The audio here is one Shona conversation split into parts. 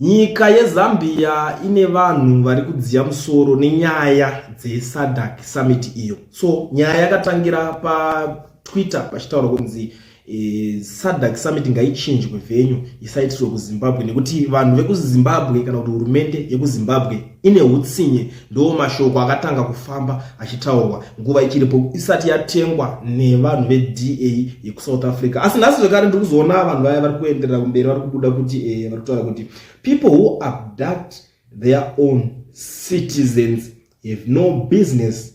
Nyika yeZambia ine vanhu vari kudziya musoro nenyaya dzeSADC summit iyo. So nyaya yakatangira paTwitter pachitaura kunzi e, SADC summit ngaichinjwe venue isaitirwe kuZimbabwe nekuti vanhu vekuZimbabwe kana kuti hurumende yekuZimbabwe ine utsinye Ndiwo mashoko akatanga kufamba achitaurwa nguva ichiripo isati yatengwa nevanhu veDA yekuSouth Africa. Asi nhasi zvekare ndiri kuzoona vanhu vaya vari kuenderera kumberi vari kubuda kuti eh, vari kutaura kuti people who abduct their own citizens have no business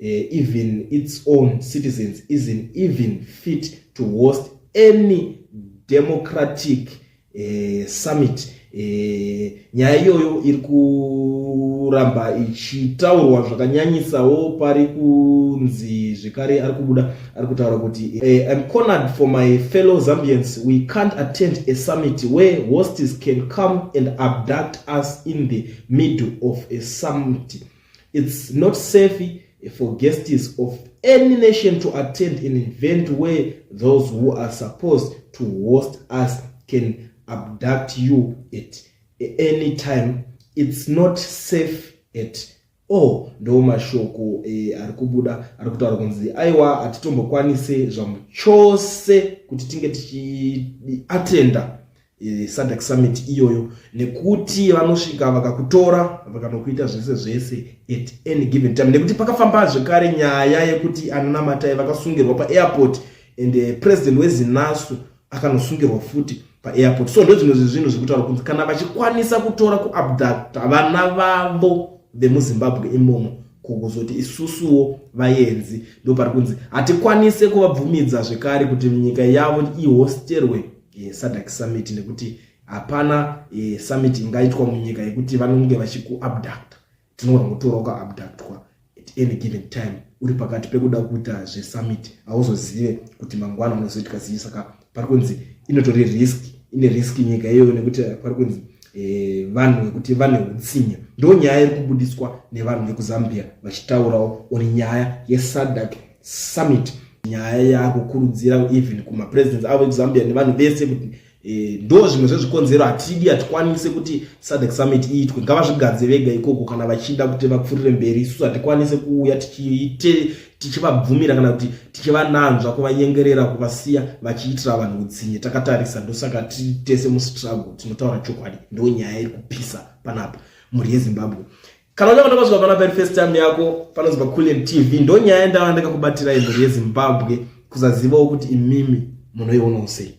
uh, even its own citizens isn't even fit to host any democratic uh, summit eh, nyaya iyoyo iri kuramba ichitaurwa zvakanyanyisawo pari kunzi zvekare ari kubuda ari kutaura kuti eh, im cornered for my fellow zambians we can't attend a summit where hostes can come and abduct us in the middle of a summit It's not safe for guests of any nation to attend an event where those who are supposed to host us can abduct you at any time. It's not safe at all. Ndo mashoko eh, ari kubuda ari kutaura kunzi aiwa hatitombokwanise zvamuchose kuti tinge tichiatenda SADC summit iyoyo nekuti vanosvika vakakutora vakanokuita zvese zvese at any given time nekuti pakafamba zvekare nyaya yekuti ananamatai vakasungirwa paairport and eh, president wezinasu akanosungirwa futi paairport so ndozvimwe zvezvinhu zvekutaura kunzi kana vachikwanisa kutora kuabducta vana vavo vemuzimbabwe imomo kuzoti isusuwo vayenzi ndopari kunzi hatikwanise kuvabvumidza zvekare kuti nyika yavo ihosterwe e, SADC summit nekuti hapana e, summit ingaitwa munyika yekuti vanonge vachikuabducta tinogona kutorawo kaabductwa at any given time uri pakati pekuda kuita zvesummit hauzozive kuti mangwana unozoitika zii saka pari kunzi inotori risk ine risk nyika iyoyo nekuti pari kunzi Eh, vanhu vekuti vane utsinye ndo nyaya iri kubudiswa nevanhu vekuzambia vachitaurawo uri nyaya yesadak Summit. Nyaya yakukurudzira even kuma presidents avo eZambia nevanhu vese kuti eh, ndo zvimwe zvezvikonzero hatidi hatikwanise kuti SADC Summit iitwe ngavazvigadze vega ikoko kana vachida kuti vapfurire mberi isusu hatikwanise kuuya tichiite tichivabvumira kana kuti tichivananzva kuvanyengerera kuvasiya vachiitira vanhu utsinye takatarisa ndosaka tiri tese mustruggle tinotaura chokwadi ndo nyaya iri kupisa panapa mhuri yezimbabwe Kana unyanga ndakazwa pana pari first time yako panozwa Kulen TV ndonyaya ndava ndakakubatira imhuri yeZimbabwe kuzazivawo kuti imimi munoiona usei.